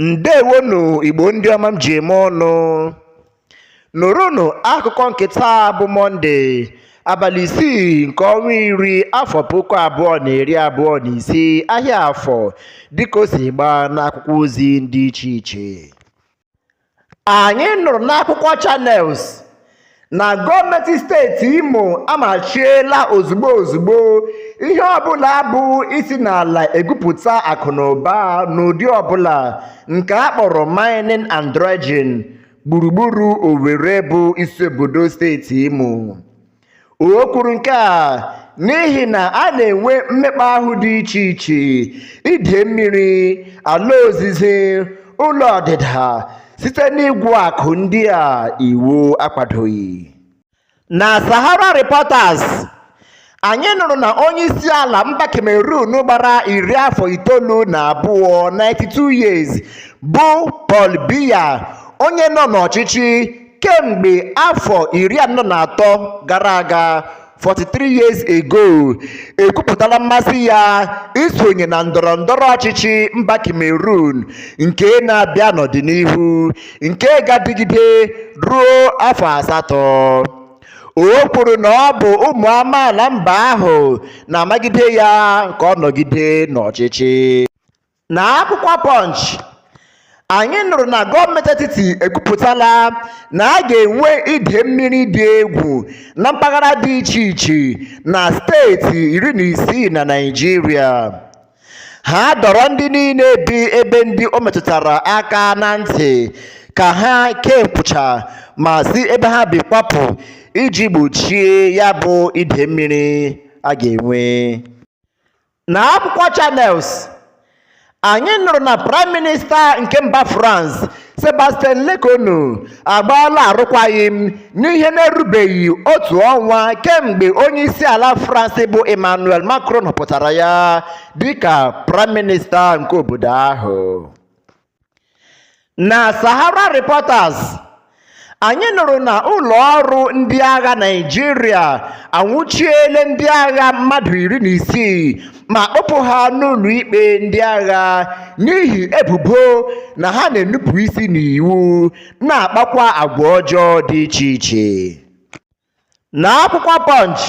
ndewonu igbo ndị ọma m ji eme ọnụ nụrụnụ akụkọ nke taa bụ mọnde abalị isii nke ọnwa iri afọ puku abụọ na iri abụọ na ise ahịa afọ dịka o si gbaa n'akwụkwọ ozi dị iche iche anyị nụrụ n'akwụkwọ Channels na gọọmenti steeti Imo amachiela ozugbo ozugbo ihe ọbụla bụ isi n'ala egwupụta akụnụba n'ụdị ọbụla nke a kpọrọ mining and dredging gburugburu Owerri bụ isi obodo steeti Imo O kwuru nke a n'ihi na a na-enwe mmekpa ahụ dị iche iche ide mmiri ala ozize ụlọ ọdịda site n'igwu akụ ndị a iwu akwadoghị na Sahara Reporters anyị nụrụ na onye isi ala mba Cameroon gbara iri afọ itoolu na abụọ 92 years bụ Paul Biya onye nọ n'ọchịchị kemgbe afọ iri anọ na atọ gara aga 43 years ago ekwupụtala mmasị ya isonye na ndọrọ ndọrọ ọchịchị mba Cameroon nke na-abịa n'ọdịnihu nke ga-adịgide ruo afọ asatọ o kwuru na ọ bụ ụmụ amaala mba ahụ na-amagide ya ka ọ nọgide n'ọchịchị Na akwụkwọ Punch, anyị nụrụ na gọọmenti etiti ekwupụtala na a ga-enwe ide mmiri dị egwu na mpaghara dị iche iche na steeti iri na isii na Naịjirịa. Ha dọrọ ndị niile bi ebe ndị o metụtara aka na ntị ka ha kee nkwụcha ma si ebe ha bi kwapụ iji gbochie ya bụ ide mmiri a ga-enwe. na akwụkwọ Channels anyị nụrụ na praịm minista nke mba France Sébastien Lecornu agbaala arụkwaghịm n'ihe na-erubeghị otu ọnwa kemgbe onye isi ala France bụ Emmanuel Macron họpụtara ya dịka praịm minista nke obodo ahụ Na Sahara Reporters, anyị nụrụ na ụlọ ọrụ ndị agha Naịjirịa anwụchiele ndị agha mmadụ iri na isii ma kpụpụ ha n'ụlọikpe ndị agha n'ihi ebubo na ha na-enupụ isi n'iwu na-akpakwa agwa ọjọọ dị iche iche. N'akwụkwọ Punch,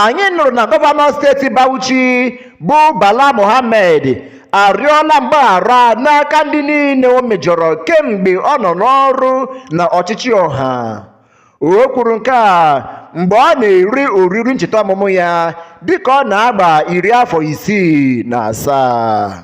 anyị nụrụ na gọvanọ steeti Bauchi bụ Bala Mohammed arịọla mgbaghara n'aka ndị niile o mejọrọ kemgbe ọ nọ n'ọrụ na ọchịchị ọha. O kwuru nke a mgbe ọ na-eri oriri ncheta ọmụmụ ya dịka ọ na-agba iri afọ isii na asaa.